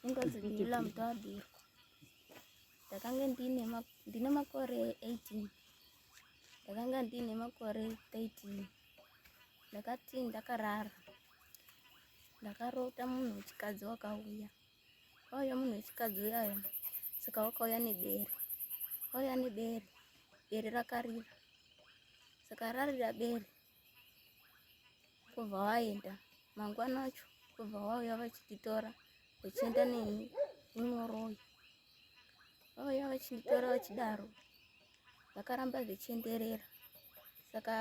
ingozi ndila muto wabirwa ndakange ndine makore 18 ndakanga ndine makore 13 ndakati ndakarara ndakarota munhu wechikadzi wakauya wauya munhu wechikadzi uyayo saka wakauya nebere wauya nebere bere rakarira saka rarira bere kubva waenda mangwana acho kubva wauya vachititora vachienda neni unoroyi vauya vachinditora vachidaro vakaramba zvichienderera saka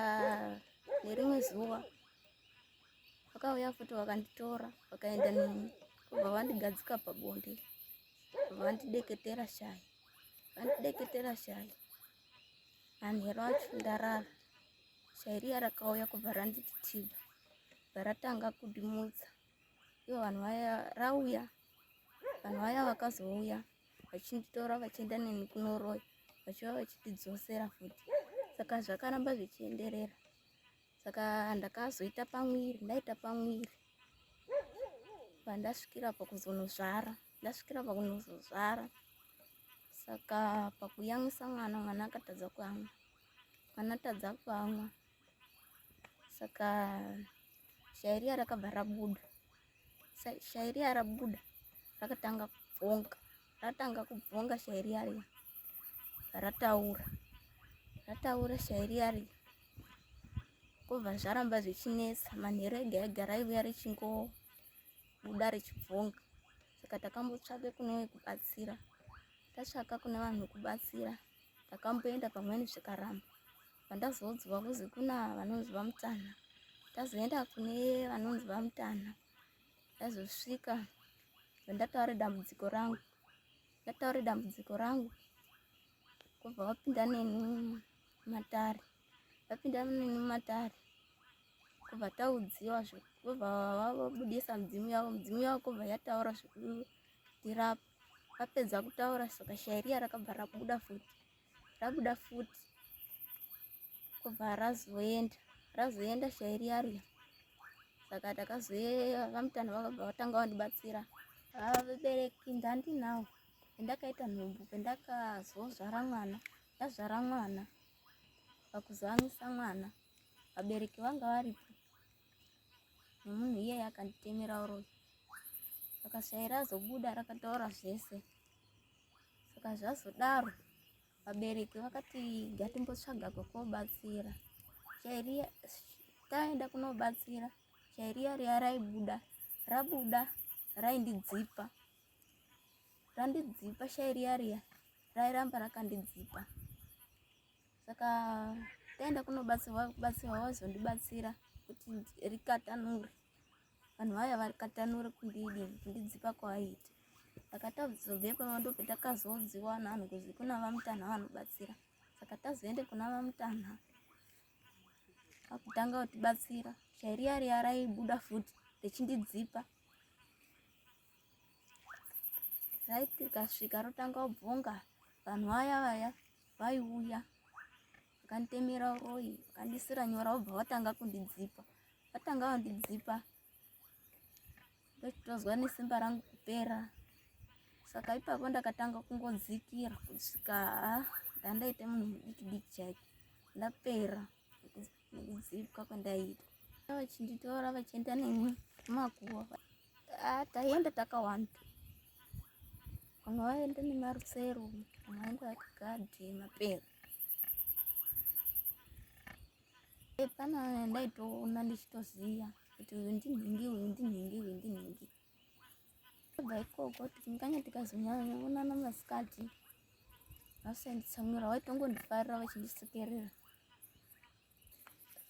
nerimwe zuva vakauya futi vakanditora vakaenda neni kubva vandigadzika pabonde kubva vandideketera shayi vandideketera shayi manhero acho ndarara Shairia rakauya kubva randiti tiba ratanga kudimudza ivo vanhu vaya rauya vanhu vaya vakazouya vachinditora vachienda neni kunoroya vachiva vachitidzosera futi saka zvakaramba zvichienderera saka ndakazoita pamwiri ndaita pamwiri pandasvikira pakuzonosvara ndasvikira pakunozozvara saka pakuyamwisa mwana mwana akatadza kuamwa mwana atadza kuamwa saka shairiya rakabva rabuda shairiya rabuda rakatanga kubvonga ratanga kubvonga shairiya riya rataura rataura shairiya riya kobva zvaramba zvichinetsa manheru ega ega raivuya richingoa kubuda richibvonga saka takambotsvake kune wekubatsira tatsvaka kune vanhu vekubatsira takamboenda pamweni zvikaramba pandazoudzwa kuzi kuna vanonzi vamutanha tazoenda kune vanonzi vamutanha ndazosvika vandataure dambudziko rangu ndataure dambudziko rangu kubva wapinda neni matare vapinda munini mumatare kubva taudziwa zvekubva vabudisa mudzimu yavo mudzimu yavo kubva yataura zvekutirapa vapedza kutaura soka shairiya rakabva rabuda futi rabuda futi kubva razoenda razoenda shairiya riya saka takazoyeva vamutano vakabva vatanga vandibatsira vabereki ndandinawo ndakaita nhumbu pendakazozvara mwana ndazvara mwana pakuzamisa mwana vabereki vanga varipo nemunhu iyeye akanditemera uroyi saka shairi azobuda rakataura zvese saka zvazodaro vabereki vakati ngatimbotsvaga kwekobatsira shairi taenda kunobatsira shairi yariya raibuda rabuda raindidzipa randidzipa shai riya riya rairamba rakandidzipa saka taenda kunobatsirwa kubatsirwa wazondibatsira kuti rikatanure vanhu vaya varikatanure kundidi kundidzipa kwavaita saka tazobvepo ndope takazodziwa nanhu kuzi kuna vamutanha vanobatsira saka tazoende kuna vamutanha akutanga kutibatsira shai riya riya raibuda futi richindidzipa right rikasvika rotanga kubvonga vanhu vaya vaya vaiuya vakanditemera uroyi vakandisira nyora vobva vatanga kundidzipa vatanga vandidzipa ndochitozwa nesimba rangu kupera saka ipapo ndakatanga kungodzikira kusvika ndandaita munhu mudikidiki chaiko ndapera kudzipwa kwandaita vachinditora vachienda neni makuva ah, taienda takawanda vamwe vaienda nemarusero vamwe vaenda vakagadhi mapera epana ndaitoona ndichitoziva kuti uyu ndinhingi uyu ndinhingi uyu ndinhingi Kubva ikoko tingange tikazonyanya onana masikati vasenditsamwira waitongondifarira vachindisekerera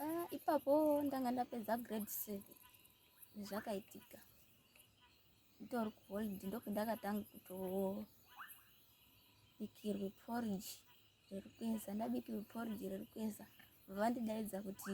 ah, ipapo ndanga ndapedza grade seven zvakaitika nditori kuholidi ndokundakatanga kutobikirwe porridge riri kueza ndabikirwe porridge riri kueza vandidaidza kuti